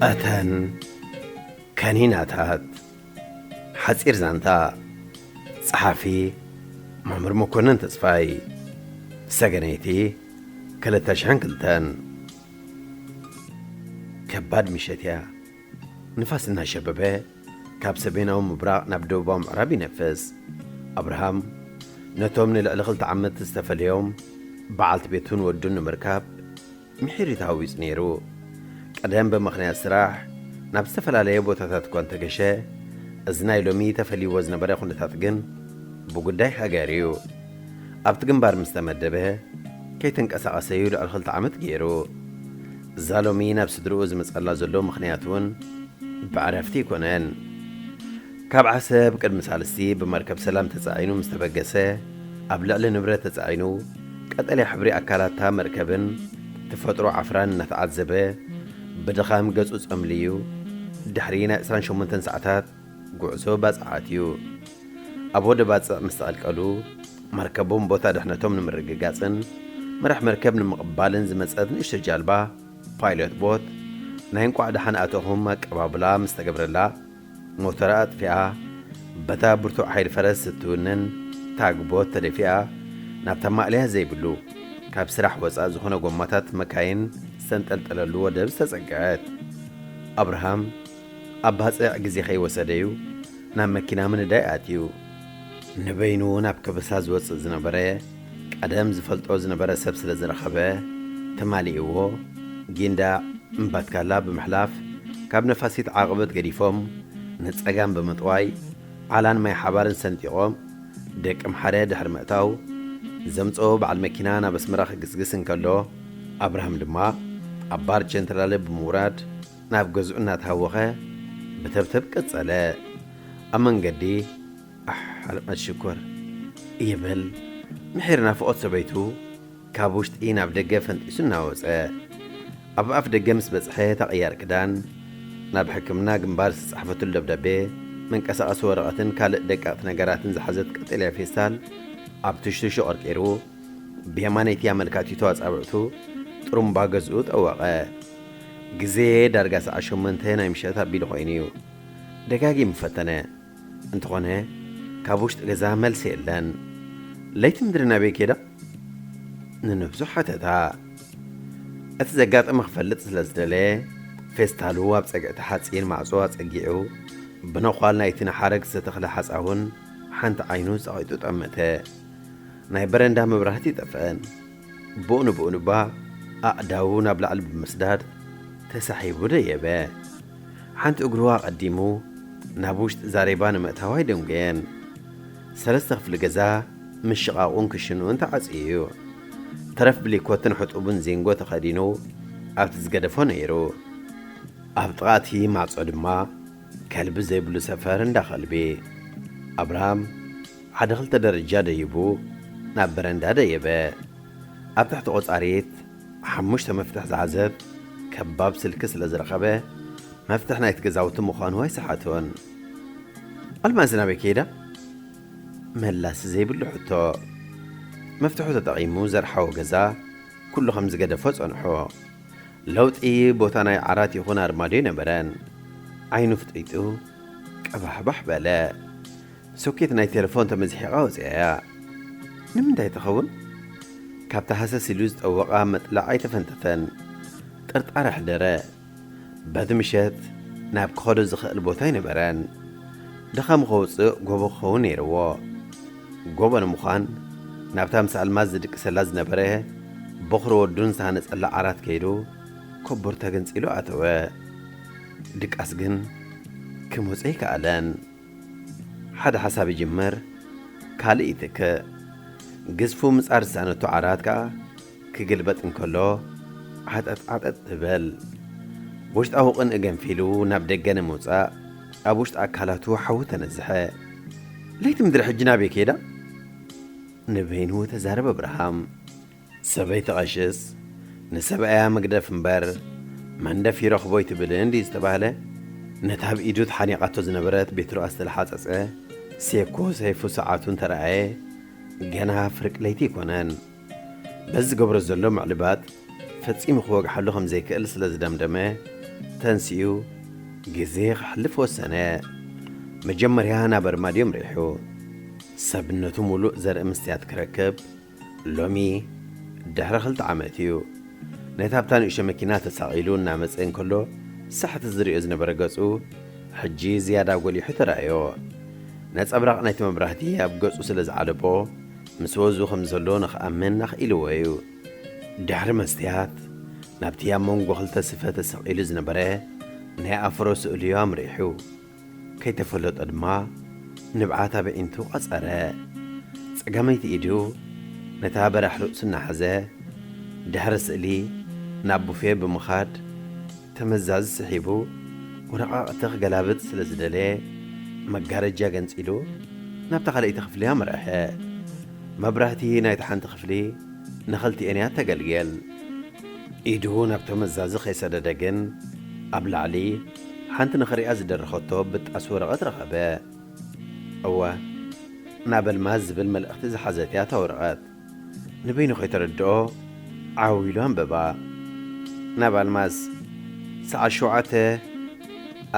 እተን ከኒናታት ሓጺር ዛንታ ጸሓፊ መምህር መኮነን ተስፋይ ሰገነይቲ 2002 ከባድ ምሸት እያ ንፋስ እናሸበበ ካብ ሰሜናዊ ምብራቕ ናብ ደቡባዊ ምዕራብ ይነፍስ። ኣብርሃም ነቶም ንልዕሊ ክልተ ዓመት ዝተፈለዮም በዓልቲ ቤቱን ወዱን ንምርካብ ምሒር ተሃዊጹ ነይሩ። ቀደም ብምኽንያት ስራሕ ናብ ዝተፈላለየ ቦታታት እኳ እንተገሸ፣ እዚ ናይ ሎሚ ተፈልይዎ ዝነበረ ኩነታት ግን ብጉዳይ ሃገር እዩ። ኣብቲ ግንባር ምስ ተመደበ ከይተንቀሳቐሰ እዩ ልዕሊ ክልተ ዓመት ገይሩ። እዛ ሎሚ ናብ ስድርኡ ዝመጸላ ዘሎ ምኽንያት እውን ብዕረፍቲ ኣይኮነን። ካብ ዓሰብ ቅድሚ ሳልስቲ ብመርከብ ሰላም ተጻዒኑ ምስ ተበገሰ ኣብ ልዕሊ ንብረት ተጻዒኑ ቀጠልያ ሕብሪ ኣካላታ መርከብን ተፈጥሮ ዓፍራን እናተዓዘበ ብድኻም ገጹ ጸምልዩ ድሕሪ ናይ ዕስራን ሸሞንተን ሰዓታት ጉዕዞ ባጽዓት እዩ። ኣብ ወደብ ባጽዕ ምስ ተቐልቀሉ፣ መርከቦም ቦታ ድሕነቶም ንምርግጋጽን መራሕ መርከብ ንምቕባልን ዝመጸት ንእሽቶ ጃልባ፣ ፓይሎት ቦት፣ ናይ እንቋዕ ደሓን ኣተኹም ኣቀባብላ ምስ ተገብረላ፣ ሞተራ ኣጥፊኣ፣ በታ ብርቱዕ ሓይሊ ፈረስ እትውንን ታግ ቦት ተደፊኣ ናብታ ማእለያ ዘይብሉ፣ ካብ ስራሕ ወጻእ ዝኾነ ጎማታት መካይን ዝተንጠልጠለሉ ወደብ ዝተጸግዐት። ኣብርሃም። ኣብ ባጽዕ ግዜ ከይወሰደ'ዩ ናብ መኪና ምንዳይ ኣትዩ። ንበይኑ ናብ ከበሳ ዝወጽእ ዝነበረ ቀደም ዝፈልጦ ዝነበረ ሰብ ስለ ዝረኸበ ተማሊእዎ ጊንዳዕ እምባትካላ ብምሕላፍ ካብ ነፋሲት ዓቕብት ገዲፎም ንጸጋም ብምጥዋይ ዓላን ማይሓባርን ሰንጢቖም ደቀምሓረ ድሕሪ ምእታው ዘምጽኦ በዓል መኪና ናብ ኣስመራ ክግስግስ እንከሎ ኣብርሃም ድማ ኣብ ባር ቸንትራለ ብምውራድ ናብ ገዝኡ እናተሃወኸ ብተብተብ ቀጸለ። ኣብ መንገዲ ኣሕ ኣልቕነት ሽኮር! ይብል ምሒር ናፍቖት ሰበይቱ ካብ ውሽጢ ናብ ደገ ፈንጢሱ እናወጸ። ኣብ ኣፍ ደገ ምስ በጽሐ እታ ቅያር ክዳን፣ ናብ ሕክምና ግንባር ዝተጻሕፈትሉ ደብዳቤ፣ መንቀሳቐሲ ወረቐትን ካልእ ደቀቕቲ ነገራትን ዝሓዘት ቀጠልያ ፌስታል ኣብ ትሽትሹ ቀርቂሩ ብየማነይቲ ኣመልካቲቱ ኣጻብዕቱ ጥሩምባ ገዝኡ ጠወቐ። ግዜ ዳርጋ ሰዓት ሸሞንተ ናይ ምሸት ኣቢሉ ኮይኑ እዩ። ደጋጊሙ ፈተነ። እንተኾነ ካብ ውሽጢ ገዛ መልሲ የለን። ለይቲ ምድሪ ናበይ ኬዳ? ንነብሱ ሓተታ። እቲ ዘጋጠመ ክፈልጥ ስለ ዝደለየ ፌስታሉ ኣብ ጸግዒ እቲ ሓጺን ማዕጾ ኣጸጊዑ ብነዃል ናይቲ ንሓረግ ዝተተኽለ ሓጻውን ሓንቲ ዓይኑ ጸቒጡ ጠመተ። ናይ በረንዳ መብራህቲ ጠፍአን። ብኡ ንብኡ ድማ ኣእዳዉ ናብ ላዕሊ ብምስዳድ ተሳሒቡ ደየበ። ሓንቲ እግሩ ኣቐዲሙ ናብ ውሽጢ ዛሬባ ንምእታው ኣይደንጎየን። ሰለስተ ክፍሊ ገዛ ምሽቓቑን ክሽንኡን ተዓጽዩ እዩ። ተረፍ ብሊኮትን ሕጡብን ዚንጎ ተኸዲኑ ኣብቲ ዝገደፎ ነይሩ። ኣብ ጥቓ እቲ ማዕጾ ድማ ከልቢ ዘይብሉ ሰፈር እንዳ ከልቢ። ኣብርሃም ሓደ ክልተ ደረጃ ደይቡ ናብ በረንዳ ደየበ። ኣብ ትሕቲ ቆጻሪት ሓሙሽተ መፍትሕ ዝሓዘት ከባብ ስልኪ ስለ ዝረኸበ መፍትሕ ናይቲ ገዛውቲ ምዃኑ ኣይሰሓቶን። ኣልማዝ ናበይ ከይዳ? መላሲ ዘይብሉ ሕቶ። መፍትሑ ተጠቒሙ ዘርሓዎ ገዛ ኩሉ ከም ዝገደፎ ጸንሑ። ለውጢ ቦታ ናይ ዓራት ይኹን ኣርማድዮ ኣይነበረን። ዓይኑ ፍጢጡ ቀባሕባሕ በለ። ሶኬት ናይ ቴለፎን ተመዝሒቓ ወጺኣ'ያ። ንምንታይ ትኸውን? ካብቲ ሃሰስ ኢሉ ዝጠወቓ መጥልዕ ኣይተፈንተተን። ጥርጣረ ኣሕደረ። በቲ ምሸት ናብ ክኸዶ ዝኸእል ቦታ ኣይነበረን። ድኻሙ ከውጽእ ጎቦ ክኸውን ነይርዎ። ጎቦ ንምዃን ናብታ ምስ ኣልማዝ ዝድቅሰላ ዝነበረ ቦኽሪ ወዱን ዝተሃነጸላ ዓራት ከይዱ ኮቦር ተገንጺሉ ኣተወ። ድቃስ ግን ክመጾ ኣይከኣለን። ሓደ ሓሳብ ይጅመር ካልእ ይትክእ። ግዝፉ ምጻር ዝጸዕነቶ ዓራት ከኣ ክግልበጥ እንከሎ ዓጠጥ ዓጠጥ ትበል። ውሽጣዊ ቅንኢ ገንፊሉ ናብ ደገ ንምውጻእ ኣብ ውሽጢ ኣካላቱ ሓዊ ተነዝሐ። ለይቲ ምድሪ ሕጂ ናበይ ከይዳ? ንበይኑ ተዛረበ ኣብርሃም። ሰበይቲ ቐሽስ ንሰብኣያ ምግደፍ እምበር መንደፍ ይረኽቦ ኣይትብልን ድዩ ዝተባህለ? ነታ ኣብ ኢዱ ተሓኒቓቶ ዝነበረት ቤትሩ ኣስተላሓጸጸ፣ ሴኮ ሰይፉ ሰዓቱ እንተረኣየ ገና ፍርቂ ለይቲ ኣይኮነን። በዚ ዝገብሮ ዘሎ ምዕልባጥ ፈጺሙ ክወግሓሉ ከም ዘይክእል ስለ ዝደምደመ ተንሲኡ ግዜ ከሕልፍ ወሰነ። መጀመርያ ናብ ኣርማድዮ ኣምሪሑ ሰብነቱ ሙሉእ ዘርኢ መስትያት ክረክብ ሎሚ ድሕሪ ክልተ ዓመት እዩ ነታ ኣብታ ንእሽቶ መኪና ተሳቒሉ እናመጸ እንከሎ ሳሕቲ ዝርእዮ ዝነበረ ገጹ ሕጂ ዝያዳ ጎሊሑ ተራእዮ። ነጸብራቕ ናይቲ መብራህቲ ኣብ ገጹ ስለ ዝዓለቦ ምስ ወዙ ከም ዘሎ ንኽኣምን ኣኽኢልዎ እዩ። ድሕሪ መስትያት ናብቲ ኣብ መንጎ ክልተ ስፈ ተሰቒሉ ዝነበረ ናይ ኣፍሮ ስእሉ'ዩ ኣምሪሑ። ከይተፈለጦ ድማ ንብዓት ኣበዒንቱ ቐጸረ። ጸጋመይቲ ኢዱ ነታ በራሕ ርእሱ እናሓዘ ድሕሪ ስእሊ ናብ ቡፌ ብምኻድ ተመዛዚ ስሒቡ ወረቓቕቲ ክገላብጥ ስለ ዝደለየ መጋረጃ ገንጺሉ ናብታ ካልኣይቲ ክፍሊ ኣምርሐ። መብራህቲ ናይታ ሓንቲ ክፍሊ ንኽልቲኤን እያ እተገልግል። ኢዱ ናብ ተመዛዚ ከይሰደደ ግን ኣብ ላዕሊ ሓንቲ ንኽሪኣ ዝደረኸቶ ብጣስ ወረቐት ረኸበ። እወ፣ ናብ ኣልማዝ ዝብል መልእኽቲ ዝሓዘት'ያ እታ ወረቐት። ንበይኑ ከይተረድኦ ዓው ኢሉ ኣንበባ። ናብ ኣልማዝ፣ ሰዓት ሸውዓተ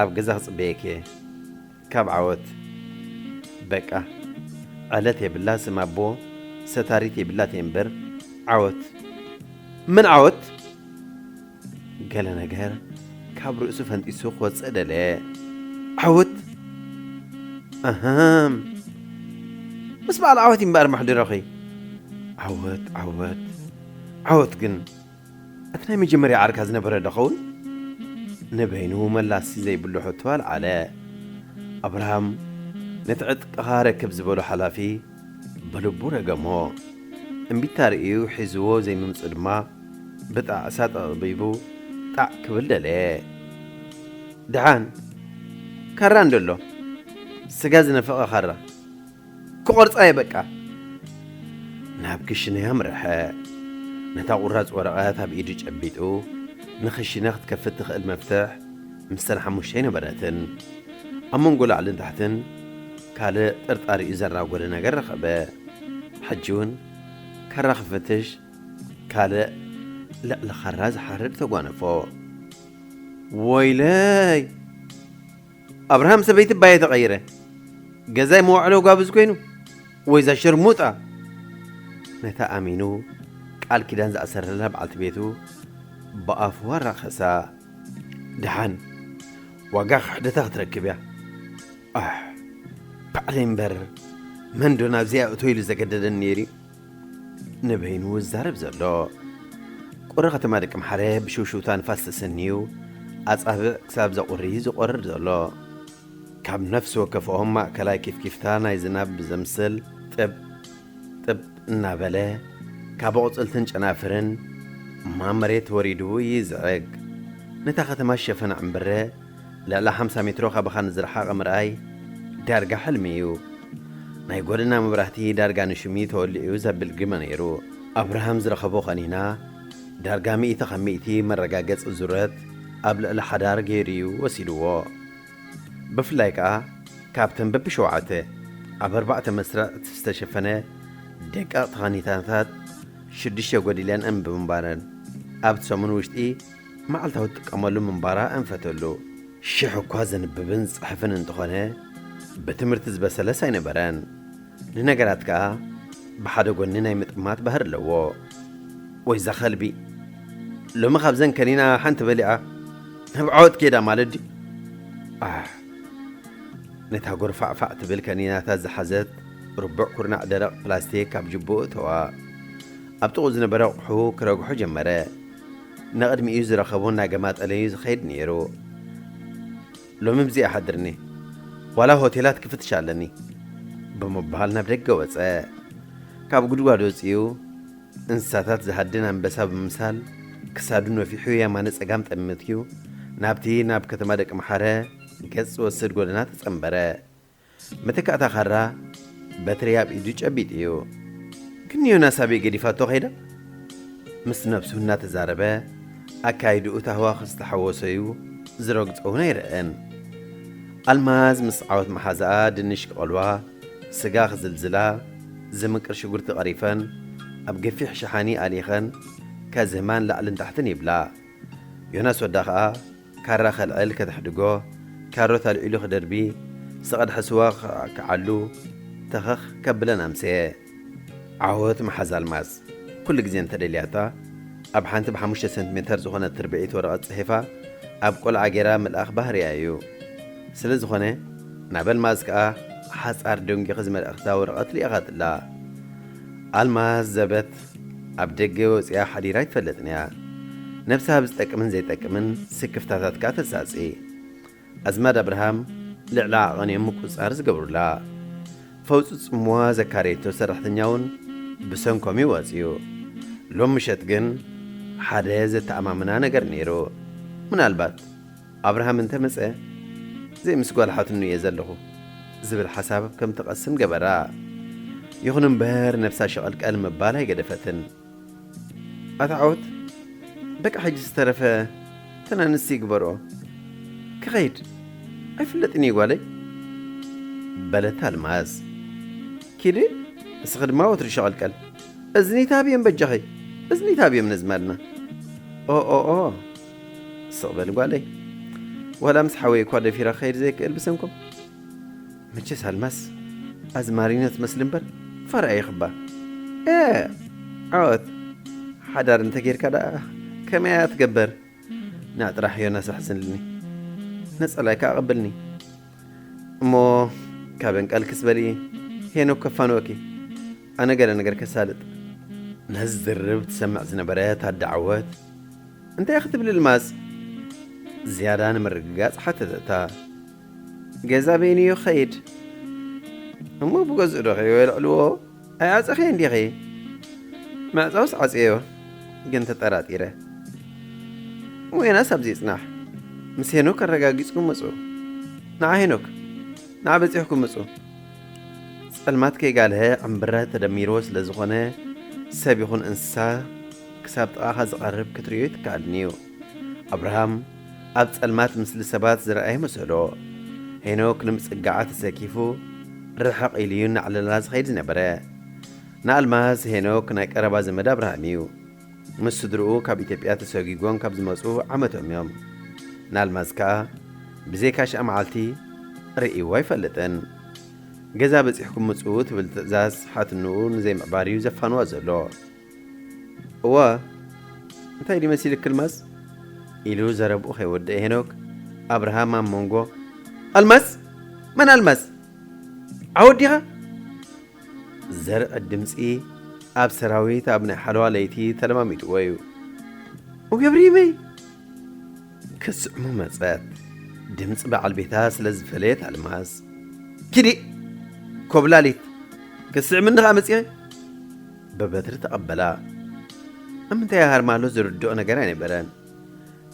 ኣብ ገዛ ክጽበየኪ'የ። ካብ ዓወት፣ በቃ፣ ዕለት የብላ፣ ስም ኣቦ ሰታሪት የብላት'የ'ምበር፣ ዓወት፣ መን ዓወት? ገለ ነገር ካብ ርእሱ ፈንጢሱ ክወጽእ ደለየ። ዓወት? ኣሃም! ምስ በዓል ዓወት እዩ እምበኣር መሕደሮኺ። ዓወት! ዓወት! ዓወት ግን እቲ ናይ መጀመርያ ዓርካ ዝነበረ ዶ ኸውን? ንበይኑ መላሲ ዘይብሉ ሕቶ ኣልዓለ። ኣብርሃም ነቲ ዕጥቅኻ ኣረክብ ዝበሎ ሓላፊ፣ ብልቡ ረገሞ። እምቢታ ርእዩ ሒዝዎ ዘይምምጽኡ ድማ ብጣዕሳ ጠቕቢቡ ጣዕ ክብል ደለየ። ደሓን ካራ እንዶ ኣሎ፣ ስጋ ዝነፈቐ ካራ። ክቖርጻ እየ በቃ። ናብ ክሽነ ኣምረሐ። ነታ ቁራጽ ወረቐት ኣብ ኢዱ ጨቢጡ ንክሽነ ክትከፍት ትኽእል መፍትሕ ምስተን ሓሙሽተይ ነበረትን። ኣብ መንጎ ላዕልን ታሕትን። ካልእ ጥርጣሪኡ ዘራጎደ ነገር ረኸበ። ሕጂውን ካራ ክፈትሽ ካልእ ልዕሊ ካራ ዝሓርድ ተጓነፎ። ወይለይ! ኣብርሃም ሰበይቲ ባየ ተቐይረ። ገዛይ መዋዕሎ ጋብዝ ኮይኑ ወይዛ ሸርሙጣ ነታ ኣሚኑ ቃል ኪዳን ዝኣሰረላ በዓልቲ ቤቱ ብኣፉ ኣራኸሳ። ደሓን ዋጋ ክሕደታ ክትረክብ እያ። ኣሕ ባዕለይ እምበር መን ዶ ናብዚኣ እቶ ኢሉ ዘገደደኒ ነይሩ ንበይኑ ዝዛረብ ዘሎ ቁሪ ከተማ ደቂ ምሓረ ብሽውሽውታ ንፋስ ተሰንዩ ኣጻብዕ ክሳብ ዘቑሪ ዝቖርር ዘሎ ካብ ነፍሲ ወከፍኦም ማእከላይ ኪፍኪፍታ ናይ ዝናብ ብዘምስል ጥብ ጥብ እናበለ ካብ ኣቑፅልትን ጨናፍርን ማመሬት ወሪዱ ይዝዕግ ነታ ከተማ ሸፈና ዕምብረ ልዕሊ ሓምሳ ሜትሮ ካባኻ ንዝረሓቐ ምርኣይ ዳርጋ ሕልሚ እዩ። ናይ ጎደና መብራህቲ ዳርጋ ንሹም እዩ ተወሊዑ ዘብል ግመ ነይሩ። ኣብርሃም ዝረኸቦ ቀኒና ዳርጋ ሚእቲ ካብ ሚእቲ መረጋገጺ ዙረት ኣብ ልዕሊ ሓዳር ገይሩ እዩ ወሲድዎ። ብፍላይ ከኣ ካብተን በብሸውዓተ ኣብ ኣርባዕተ መስርዕት ዝተሸፈነ ደቀቕቲ ካኒታታት ሽዱሽተ ጎዲለን'ም ብምንባረን ኣብቲ ሰሙን ውሽጢ መዓልታዊ እትጥቀመሉ ምንባራ ኣንፈተሉ። ሽሕ እኳ ዘንብብን ዝጽሕፍን እንተኾነ ብትምህርቲ ዝበሰለስ ኣይነበረን። ንነገራት ከኣ ብሓደ ጎኒ ናይ ምጥማት ባህሪ ኣለዎ። ወይዛ ከልቢ ሎሚ ካብዘን ከኒና ሓንቲ በሊዓ ናብ ዓወት ኬዳ ማለት ድዩ? ኣሕ! ነታ ጎርፋዕፋዕ ትብል ከኒናታት ዝሓዘት ርቡዕ ኩርናዕ ደረቕ ፕላስቲክ ካብ ጅብኡ እተዋ። ኣብ ጥቕኡ ዝነበረ ኣቑሑ ክረግሖ ጀመረ። ንቕድሚኡ ዝረኸቦ እናገማጠለ'ዩ ዝኸይድ ነይሩ። ሎሚ ብዘይ ኣሕድርኒ፣ ዋላ ሆቴላት ክፍትሽ ኣለኒ። ብምባል ናብ ደገ ወጸ። ካብ ጉድጓድ ወጺኡ እንስሳታት ዝሃድን ኣንበሳ ብምምሳል ክሳዱ ነፊሑ የማነ ጸጋም ጠምትዩ ናብቲ ናብ ከተማ ደቂ መሓረ ገጽ ዝወስድ ጎደና ተጸንበረ። መተካእታ ካራ በትሪ ኣብ ኢዱ ጨቢጡ እዩ ክንዮናስ ኣበይ ገዲፋቶ ከይዳ? ምስ ነብሱ እናተዛረበ ኣካይድኡ ታህዋኽ ዝተሓወሶ እዩ ዝረግጾ እውን ኣይረኣን። ኣልማዝ ምስ ዓወት መሓዛኣ ድንሽ ክቐልዋ ስጋ ክዝልዝላ ዝምቅር ሽጉርቲ ቀሪፈን ኣብ ገፊሕ ሸሓኒ ኣሊኸን ከዝህማን ላዕልን ታሕትን ይብላ። ዮናስ ወዳ ከኣ ካራ ከልዕል ከተሕድጎ፣ ካሮት ኣልዒሉ ክደርቢ፣ ዝተቐድሐ ስዋ ክዓሉ ተኸኽ ከብለን ኣምሰየ። ዓወት መሓዛ ኣልማዝ ኩሉ ግዜ እንተደልያታ ኣብ ሓንቲ ብሓሙሽተ ሰንቲሜተር ዝኾነት ርብዒት ወረቐት ጽሒፋ ኣብ ቆልዓ ገይራ ምልኣኽ ባህርያ እዩ። ስለ ዝኾነ ናብ ኣልማዝ ከኣ ሓጻር ደንጒኽዚ መልእኽታ ወረቐት ልኢኻትላ። ኣልማዝ ዘበት። ኣብ ደገ ወጺኣ ሓዲራ ኣይትፈልጥን እያ። ነብሳ ኣብ ዝጠቅምን ዘይጠቅምን ስክፍታታት ከኣ ተሳጺ። ኣዝማድ ኣብርሃም ልዕሊ ዓቐን እዮም ምቁጽጻር ዝገብሩላ። ፈውጹ ጽምዋ ዘካረየቶ ሰራሕተኛ'ውን ብሰንኮም እዩ ወጺኡ። ሎም ምሸት ግን ሓደ ዘተኣማምና ነገር ነይሩ። ምናልባት። ኣብርሃም እንተ መጸ ዘይ ምስ ጓል ሓትኑ እየ ዘለኹ ዝብል ሓሳብ ከም ትቐስም ገበራ። ይኹን እምበር ነብሳ ሸቐልቀል ምባል ኣይገደፈትን። ኣታ ዓወት በቃ ሕጂ ዝተረፈ እተን ኣንስቲ ግበርኦ ክኸይድ ኣይፍለጥን እዩ ጓለይ በለት ኣልማዝ። ኪዲ ንስኺ ድማ ወትሩ ሸቐልቀል እዝኒ ታብየም በጃኺ እዝኒ ታብየም ነዝማድና ኦኦኦ። ስቕ በሊ ጓለይ ዋላ ምስ ሓወይ እኳ ደፊረ ክኸይድ ዘይክእል ብሰንኮም መቸስ ኣልማስ ኣዝማሪኖ ትመስሊ እምበር ፋራ ኢኽባ እ ዓወት ሓዳር እንተጌርካ ደኣ ከመይ እያ ትገበር ንዕ ጥራሕ ዮናስ ኣሕስንልኒ ነጸላይካ ኣቐብልኒ እሞ ካብን ቀልክስ በሊ ሄኖክ ከፋንወኪ ኣነ ገለ ነገር ከሳልጥ ነዚ ዝርርብ ትሰምዕ ዝነበረት ኣደ ዓወት እንታይ ክትብል ኣልማዝ ዝያዳ ንምርግጋጽ ሓተተታ። ገዛ በይኑ ይኸይድ እሞ ብገዝኡ ዶ ከይወልዕልዎ ኣይዓጸኸዮን ዲኺ? ምዕጻውስ ዓጽየዮ ግን ተጠራጢረ። እሞ ዮናስ ኣብዚ ይጽናሕ ምስ ሄኖክ ኣረጋጊጽኩም ምጹ። ንዓ ሄኖክ ንዓ በጺሕኩም ምጹ። ጸልማት ከይጋልሀ ዕምብረ ተደሚርዎ ስለ ዝኾነ ሰብ ይኹን እንስሳ ክሳብ ጥቓኻ ዝቐርብ ክትርእዮ ኣይትከኣልን እዩ። ኣብርሃም ኣብ ጸልማት ምስሊ ሰባት ዝረኣየ መሰሎ። ሄኖክ ንምጽጋዓ ተሰኪፉ ርሕቕ ኢሉ እዩ እናዕለላ ዝኸይድ ዝነበረ። ንኣልማዝ ሄኖክ ናይ ቀረባ ዘመድ ኣብርሃም እዩ። ምስ ስድርኡ ካብ ኢትዮጵያ ተሰጒጎም ካብ ዝመጹ ዓመቶም እዮም። ንኣልማዝ ከኣ ብዘይካ ሽዓ መዓልቲ ርእይዎ ኣይፈልጥን። ገዛ በጺሕኩም ምጽኡ ትብል ትእዛዝ ሓትንኡ ንዘይምዕባር እዩ ዘፋንዋ ዘሎ። እዋ እንታይ ድዩ መሲልኪ ኣልማዝ? ኢሉ ዘረብኡ ከይወደኤ ሄኖክ ኣብርሃም ኣብ መንጎ ኣልማዝ? መን ኣልማዝ? ዓወት ዲኻ? ዘርዕድ ድምፂ ኣብ ሰራዊት ኣብ ናይ ሓለዋ ለይቲ ተለማሚጥዎ እዩ ወገብ ሪመይ ክስዕሙ መፀት ድምፂ በዓል ቤታ ስለ ዝፈለየት ኣልማዝ ኪዲ ኮብላሊት ክስዕምኒ ከዓ መፅኸ ብበትሪ ተቐበላ። ኣብ ምንታይ ይሃርማሉ ዝርድኦ ነገር ኣይነበረን።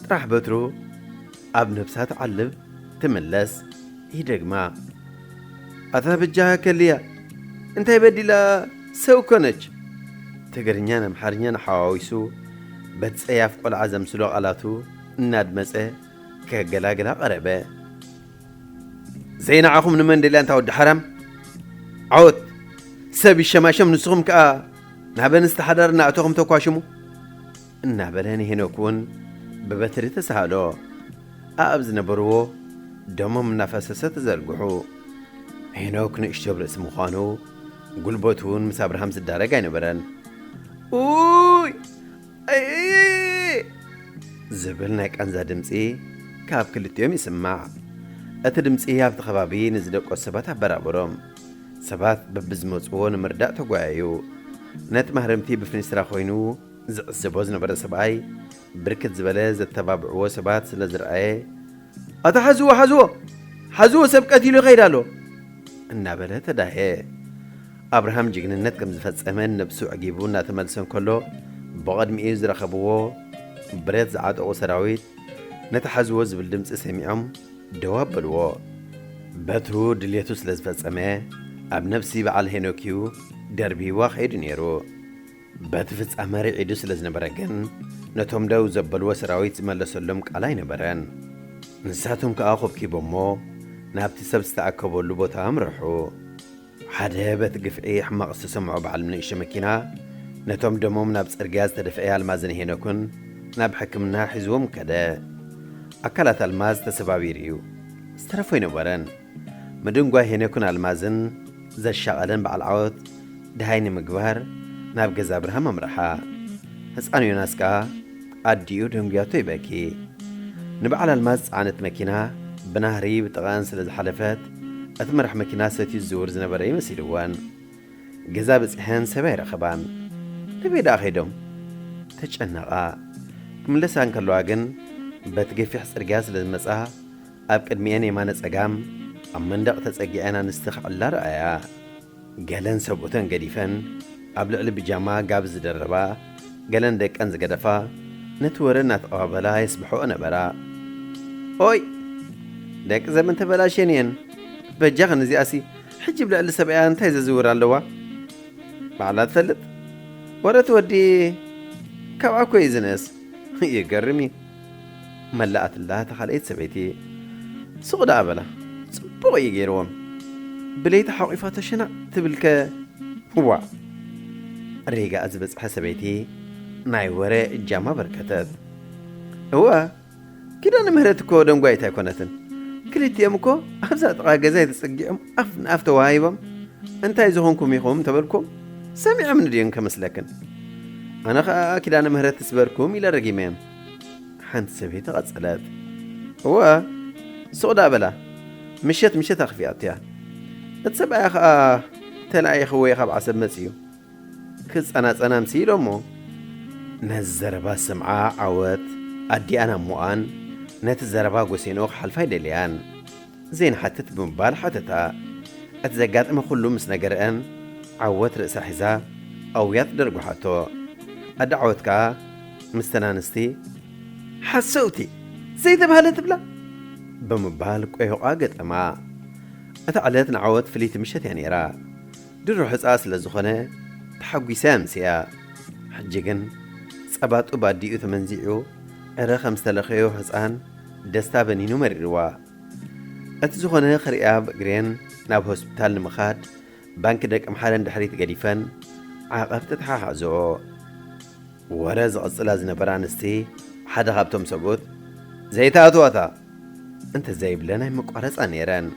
ጥራሕ በትሩ ኣብ ነብሳ ትዓልብ ትምለስ ይደግማ። ኣታ በጃኻ ከልያ እንታይ በዲላ ሰው ኮነች። ትግርኛን ኣምሓርኛን ሓዋዊሱ በቲ ጸያፍ ቆልዓ ዘምስሎ ቃላቱ እናድመጸ ከገላግላ ቀረበ። ዘይንዓኹም ንመን ደልያ እንታ ወዲ ሓራም ዓወት ሰብ ይሸማሸም ንስኹም ከኣ ናብ ኣንስቲ ሓዳር እናእተኹም ተኳሽሙ እናበለ ንሄኖክ እውን ብበትሪ ተሳሃሎ ኣብ ዝነበርዎ ደሞም እናፈሰሰ ተዘርግሑ ሄኖክ ንእሽቶ ርእሲ ምዃኑ ጉልበቱ እውን ምስ ኣብርሃም ዝዳረግ ኣይነበረን ኡይ ዝብል ናይ ቃንዛ ድምጺ ካብ ክልቲኦም ይስማዕ። እቲ ድምጺ ኣብቲ ከባቢ ንዝደቀሱ ሰባት ኣበራበሮም። ሰባት በብዝመጽዎ ንምርዳእ ተጓየዩ። ነቲ ማህረምቲ ብፊንስትራ ኮይኑ ዝዕዘቦ ዝነበረ ሰብኣይ ብርክት ዝበለ ዘተባብዕዎ ሰባት ስለዝረኣየ ኣታ ሓዝዎ ሓዝዎ ሓዝዎ ሰብ ቀቲሉ ይኸይድ ኣሎ እናበለ ተዳህየ። ኣብርሃም ጅግንነት ከም ዝፈጸመን ነብሱ ኣዕጊቡ እናተመልሰ እንከሎ ብቐድሚኡ ዝረኸብዎ ብረት ዝዓጠቑ ሰራዊት ነቲ ሓዝዎ ዝብል ድምጺ ሰሚዖም ደው ኣበልዎ። በትሩ ድሌቱ ስለ ዝፈጸመ ኣብ ነብሲ በዓል ሄኖክ እዩ ደርብይዋ ከይዱ ነይሩ። በቲ ፍጻመ ርዒዱ ስለ ዝነበረ ግን ነቶም ደው ዘበልዎ ሰራዊት ዝመለሰሎም ቃል ኣይነበረን። ንሳቶም ከኣ ኮብኪቦሞ ናብቲ ሰብ ዝተኣከበሉ ቦታ ኣምርሑ። ሓደ በት ግፍዒ ሕማቕ ዝተሰምዖ በዓል ንእሽቶ መኪና፣ ነቶም ደሞም ናብ ጽርግያ ዝተደፍኤ ኣልማዝን ሄኖክን ናብ ሕክምና ሒዝዎም ከደ። ኣካላት ኣልማዝ ተሰባቢሩ እዩ። ዝተረፉ ኣይነበረን። ምድንጓይ ሄኖክን ኣልማዝን ዘሻቐለን በዓል ዓወት ደሃይ ንምግባር ናብ ገዛ ኣብርሃም ኣምርሓ። ህጻን ዮናስ ከኣ ኣዲኡ ደንጉያቶ ይበኪ። ንበዓል ኣልማዝ ዝጸዓነት መኪና ብናህሪ ብጥቓኣን ስለ ዝሓለፈት እቲ መራሕ መኪና ሰትዩ ዝዝውር ዝነበረ እዩ መሲልወን። ገዛ በጺሐን ሰብ ኣይረኸባን። ናበይ ደኣ ከይዶም? ተጨነቓ። ክምለሳ እንከለዋ ግን በቲ ገፊሕ ጽርግያ ስለ ዝመጻ ኣብ ቅድሚኤን የማነ ጸጋም ኣብ መንደቕ ተጸጊዐን ኣንስቲ ክዕላ ረኣያ። ገለን ሰብኡተን ገዲፈን ኣብ ልዕሊ ብጃማ ጋቢ ዝደረባ፣ ገለን ደቀን ዝገደፋ ነቲ ወረ እናተቐባበላ የስብሕኦ ነበራ። ኦይ! ደቂ ዘመን ተበላሽየን እየን። በጃኽን እዚኣሲ ሕጂ ብ ልዕሊ ሰብኣያ እንታይ ዘዝውር ኣለዋ? ባዕላ ትፈልጥ። ወረ እቲ ወዲ ካብኣ እኮ እዩ ዝንእስ። ይገርም እዩ። መላኣትላ እታ ካልኣይቲ ሰበይቲ። ስቕ ደኣ በላ ጽቡቕ እዩ ገይርዎም ብለይቲ ሓቝፋቶ ሸናዕ ትብል ከ ዋእ። ሪጋኣ ዝበጽሐ ሰበይቲ ናይ ወረ እጃማ ኣበርከተት። እወ ኪዳነ ምህረት እኮ ደንጓይት ኣይኮነትን ክልቲኦም እኮ ኣብዛ ጥቓ ገዛይ ተጸጊዖም ኣፍ ንኣፍ ተወሃሂቦም እንታይ ዝኾንኩም ኢኹም እንተበልኩም ሰሚዖምኒ ድዮም ከመስለክን ኣነ ኸኣ ኪዳነ ምህረት ትስበርኩም ኢለ ረጊመዮም ሓንቲ ሰበይቲ ቐጸለት እወ ሱቕ ዳኣ በላ ምሸት ምሸት ኣኽፊኣትያ እቲ ሰብኣያ ኸኣ ተለኣኢኽወየ ኻብ ዓሰብ መጺኡ ክጸናጸና ምስ ኢሎሞ ነዚ ዘረባ ስምዓ ዓወት ኣዲኣን ኣሞኣን ነቲ ዘረባ ጎሴንኦ ክሓልፋ ኣይደለያን ዘይንሓትት ብምባል ሓተታ። እቲ ዘጋጠመ ኩሉ ምስ ነገረአ ዓወት ርእሳ ሒዛ ኣውያት ደርጉሓቶ። ኣደ ዓወት ከኣ ምስተን ኣንስቲ ሓሰውቲ ዘይተባህለ ትብላ ብምባል ቆይቋ ገጠማ። እታ ዕለት ንዓወት ፍልይቲ ምሸት እያ ነይራ። ድሮ ሕጻ ስለ ዝኾነ ተሓጒሳ እያ ኣምሲኣ። ሕጂ ግን ጸባ ጡብ ኣዲኡ ተመንዚዑ ዕረ ከም ዝተለኸዮ ሕጻን፣ ደስታ በኒኑ መሪርዋ እቲ ዝኾነ ክርእያ ብእግሬን ናብ ሆስፒታል ንምኻድ ባንኪ ደቀምሓረ ንድሕሪት ገዲፈን ዓቐብ ተተሓሓዝኦ። ወረ ዝቕጽላ ዝነበራ ኣንስቲ ሓደ ካብቶም ሰብኡት ዘይተኣትዋታ እንተዘይብለን ኣይምቋረጻ ነይረን።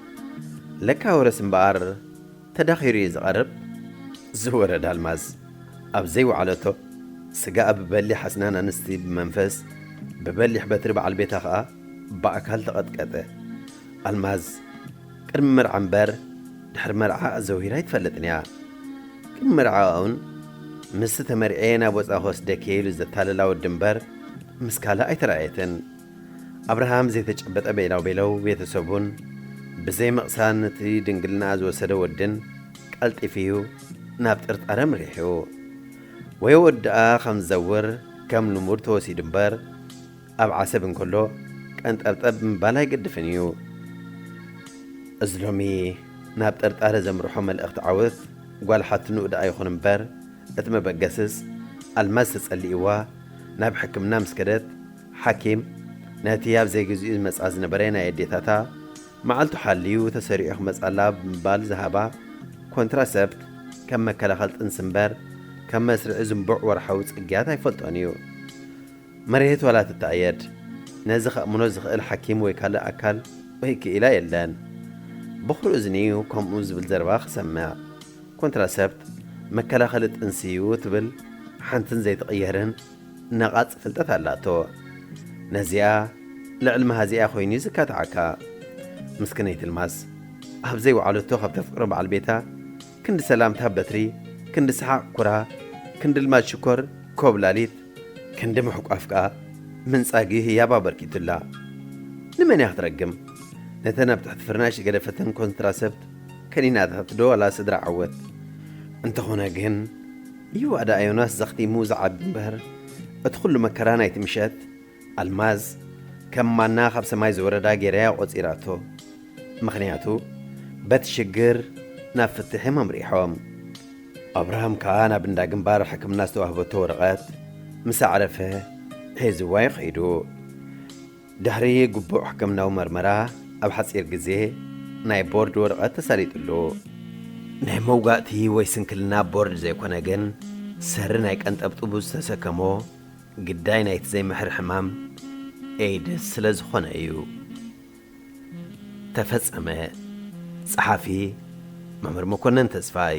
ለካ ወረስ እምበኣር ተዳኺሩ እዩ ዝቐርብ ዝወረድ ኣልማዝ ኣብ ዘይወዓለቶ ስጋኣ ብበሊሕ ኣስናን ኣንስቲ ብመንፈስ ብበሊሕ በትሪ በዓል ቤታ ከኣ ብኣካል ተቐጥቀጠ። ኣልማዝ ቅድሚ መርዓ እምበር ድሕሪ መርዓ ኣዘውሂራ ኣይትፈልጥን እያ። ቅድሚ መርዓኣ'ውን ምስቲ ተመርዕየ ናብ ወጻኢ ክወስደኪ'የ ኢሉ ዘታለላ ወዲ እምበር ምስ ካልእ ኣይተራእየትን። ኣብርሃም ዘይተጨበጠ ቤላውቤለው ቤተሰቡን ብዘይ ምቕሳን ነቲ ድንግልና ዝወሰደ ወድን ቀልጢፊዩ ናብ ጥርጣረ ምሪሒኡ። ወይ ወድኣ ከም ዝዘውር ከም ልሙድ ተወሲዱ እምበር ኣብ ዓሰብ እንከሎ ቀንጠብጠብ ምባል ኣይገድፍን እዩ። እዚ ሎሚ ናብ ጥርጣረ ዘምርሖ መልእኽቲ ዓወት ጓል ሓትንኡ ደኣ ይኹን እምበር እቲ መበገስስ ኣልማዝ ተጸሊእዋ ናብ ሕክምና ምስ ከደት ሓኪም ነቲ ኣብ ዘይግዚኡ ዝመጽኣ ዝነበረ ናይ ኣዴታታ መዓልቱ ሓልዩ ተሰሪዑ ክመጽኣላ ብምባል ዝሃባ ኮንትራሰፕት ከም መከላኸሊ ጥንሲ እምበር ከም መስርዒ ዝንቡዕ ወርሓዊ ጽግያት ኣይፈልጦን እዩ። መርየት ዋላ ትተኣየድ ነዚ ከእምኖ ዝኽእል ሓኪም ወይ ካልእ ኣካል ወይ ክኢላ የለን። ብኹሪ እዝኒ እዩ ከምኡ ዝብል ዘረባ ክሰምዕ። ኮንትራሰፕት መከላኸሊ ጥንሲ እዩ ትብል ሓንትን ዘይትቕየርን ነቓጽ ፍልጠት ኣላቶ ነዚኣ ልዕል መሃዚኣ ኮይኑዩ ዝካትዓካ ምስክነይ ትልማስ ኣብ ዘይወዓለቶ ካብ ተፍቅሮ በዓል ቤታ ክንዲ ሰላምታ በትሪ ክንዲ ሰሓቕ ኩራ ክንዲ ልማድ ሽኮር ኮብላሊት ክንዲ ምሕቋፍ ከኣ ምንጻጊ ህያብ ኣበርኪቱላ ንመን እያ ክትረግም ነተን ኣብ ትሕቲ ፍርናሽ ዝገደፈተን ኮንትራሰፕት ከኒናታትዶ ዋላ ስድራ ዓወት እንተኾነ ግን እዩዋ ደኣ ዮናስ ዘኽቲሙ ዝዓቢ እምበር እቲ ኹሉ መከራ ናይቲ ምሸት ኣልማዝ ከም ማና ካብ ሰማይ ዝወረዳ ጌራያ ቆጺራቶ ምኽንያቱ በቲ ሽግር ናብ ፍትሕ እዮም ኣምሪሖም ኣብርሃም ከኣ ናብ እንዳ ግንባር ሕክምና ዝተዋህበቶ ወረቐት ምስ ኣዕረፈ ሒዝዋ እዩ ከይዱ። ድሕሪ ግቡእ ሕክምናዊ መርመራ ኣብ ሓጺር ግዜ ናይ ቦርድ ወረቐት ተሳሊጥሉ። ናይ መውጋእቲ ወይ ስንክልና ቦርድ ዘይኮነ ግን ሰሪ ናይ ቀንጠብጥቡ ዝተሰከሞ ግዳይ ናይቲ ዘይምሕር ሕማም ኤይድስ ስለ ዝኾነ እዩ። ተፈጸመ። ጸሓፊ፣ መምህር መኮነን ተስፋይ።